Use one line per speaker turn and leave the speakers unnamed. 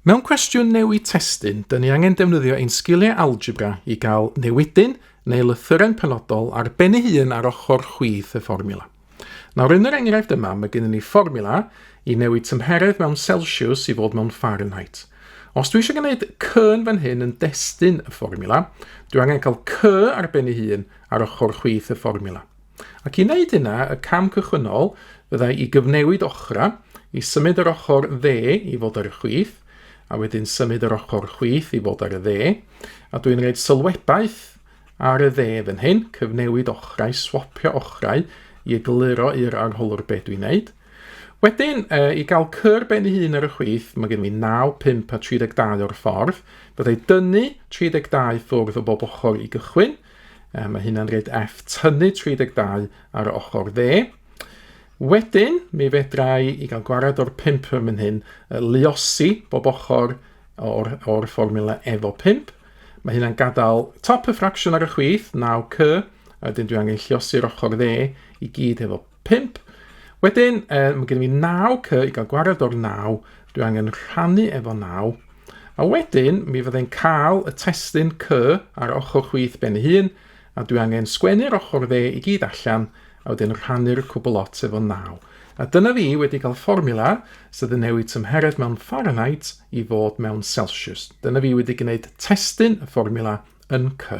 Mewn cwestiwn newid testun, dyn ni angen defnyddio ein sgiliau algebra i gael newidyn neu lythyren penodol ar ben ei hun ar ochr chwith y fformiwla. Nawr yn yr enghraifft yma, mae gennym ni fformiwla i newid tymheredd mewn Celsius i fod mewn Fahrenheit. Os dwi eisiau gwneud cy yn fan hyn yn destun y fformiwla, dwi angen cael cy ar ben ei hun ar ochr chwith y fformiwla. Ac i wneud hynna, y cam cychwynnol fyddai i gyfnewid ochrau, i symud yr ochr dde i fod ar y chwith, a wedyn symud yr ochr chwith i fod ar y dde, a dwi'n rhaid sylwebaeth ar y dde fan hyn, cyfnewid ochrau, swapio ochrau i egluro i'r arholwr beth dwi'n neud. Wedyn, e, i gael cyr ben ei hun ar y chwith, mae gen i 9, 5 a 32 o'r ffordd. Byddai dynnu 32 ffwrdd o bob ochr i gychwyn, Um, mae hynna'n rhaid F tynnu 32 ar y ochr dde. Wedyn, mi fedrai i gael gwared o'r 5 yn mynd hyn, luosi bob ochr o'r, or fformula efo 5. Mae hynna'n gadael top y ffracsiwn ar y chwith, 9c, a dyn dwi angen lliosi'r ochr dde i gyd efo 5. Wedyn, eh, mae gen i 9 cy i gael gwared o'r 9. Dwi angen rhannu efo 9. A wedyn, mi fyddai'n cael y testyn cy ar ochr chwith ben ei hun, a dwi angen sgwennu'r ochr dde i gyd allan, a wedyn rhannu'r cwbl lot efo 9. A dyna fi wedi cael fformula sydd yn newid tymheredd mewn Fahrenheit i fod mewn Celsius. Dyna fi wedi gwneud testyn y fformula yn cy.